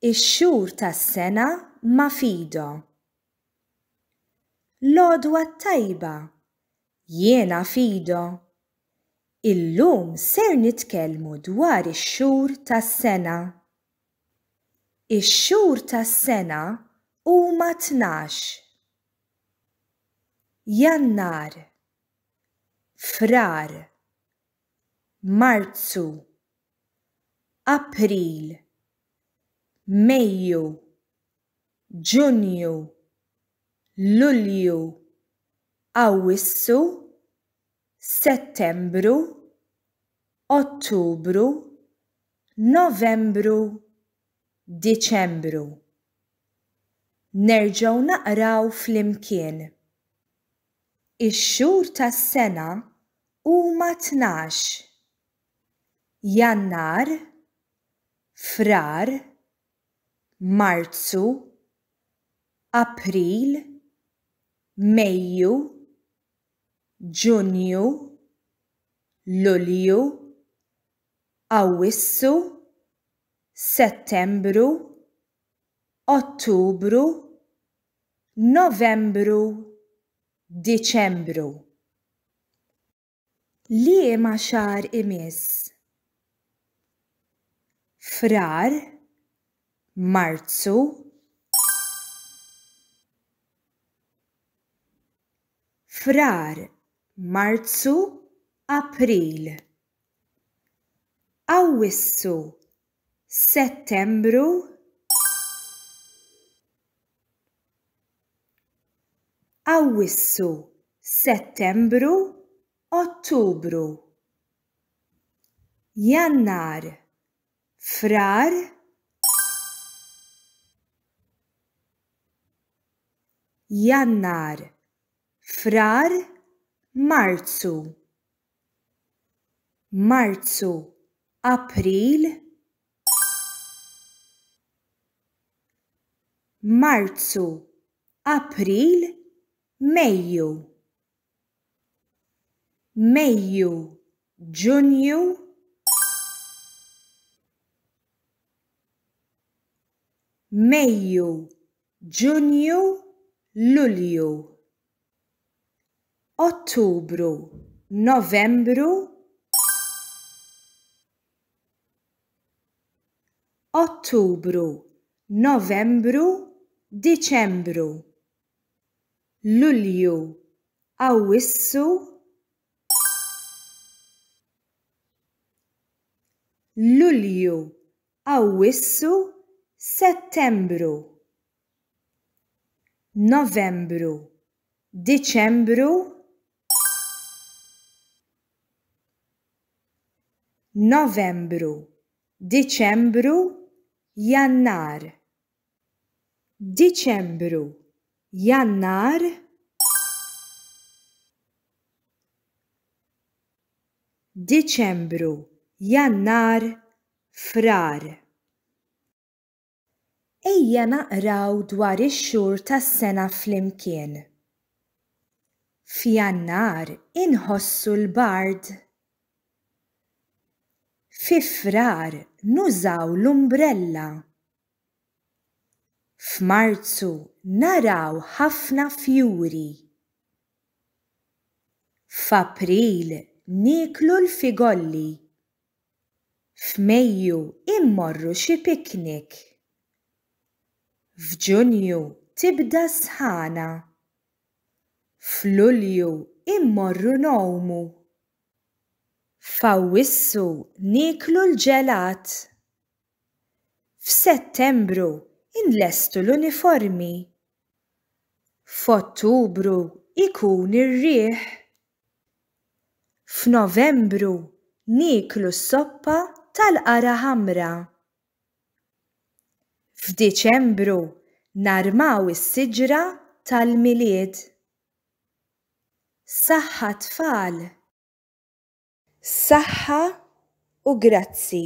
Ix-xhur tas-sena ma' Fido. L-għodwa t-tajba, jiena Fido. Illum ser nitkellmu dwar ix-xhur tas-sena. Ix-xhur tas-sena huma tnax. Jannar. Frar. Marzu. April, Mejju, Ġunju, Lulju, Awwissu, Settembru, Ottubru, Novembru, Diċembru. Nerġgħu naqraw flimkien. Ix-xhur tas-sena huma tnax. Jannar, Frar, Marzu, April, Mejju, Ġunju, Lulju, Awwissu, Settembru, Ottubru, Novembru, Diċembru. Liema xahar imiss? Frar? Marzu? Frar, Marzu, April. Awwissu Settembru Awwissu Settembru Ottubru Jannar Frar Jannar Frar Marzu Marzu, April, Marzu, April, Mejju, Mejju, Ġunju, Mejju, Ġunju, Lulju. Ottubru, Novembru, Ottubru, Novembru, Diċembru, Lulju, Awwissu, Lulju, Awwissu, Settembru. Novembru, Diċembru, Novembru, Diċembru, Jannar, Diċembru, Jannar, Diċembru, Jannar, Frar. Ejja naqraw dwar ix-xhur tas-sena flimkien. F'Jannar inħossu l-bard. Fi Frar nużaw l-umbrella. F'Marzu naraw ħafna fjuri. F'April nieklu l-figolli. F'Mejju immorru xi picnic. F'Ġunju tibda s-sħana. F'Lulju immorru ngħumu. F'Awwissu nieklu l-ġelat. F'Settembru nlestu l-uniformi. F'Ottubru ikun ir-riħ. F'Novembru nieklu s-soppa tal-qara ħamra. F'Diċembru narmaw is-siġra tal-Milied. Saħħa tfal! Saħħa u grazzi.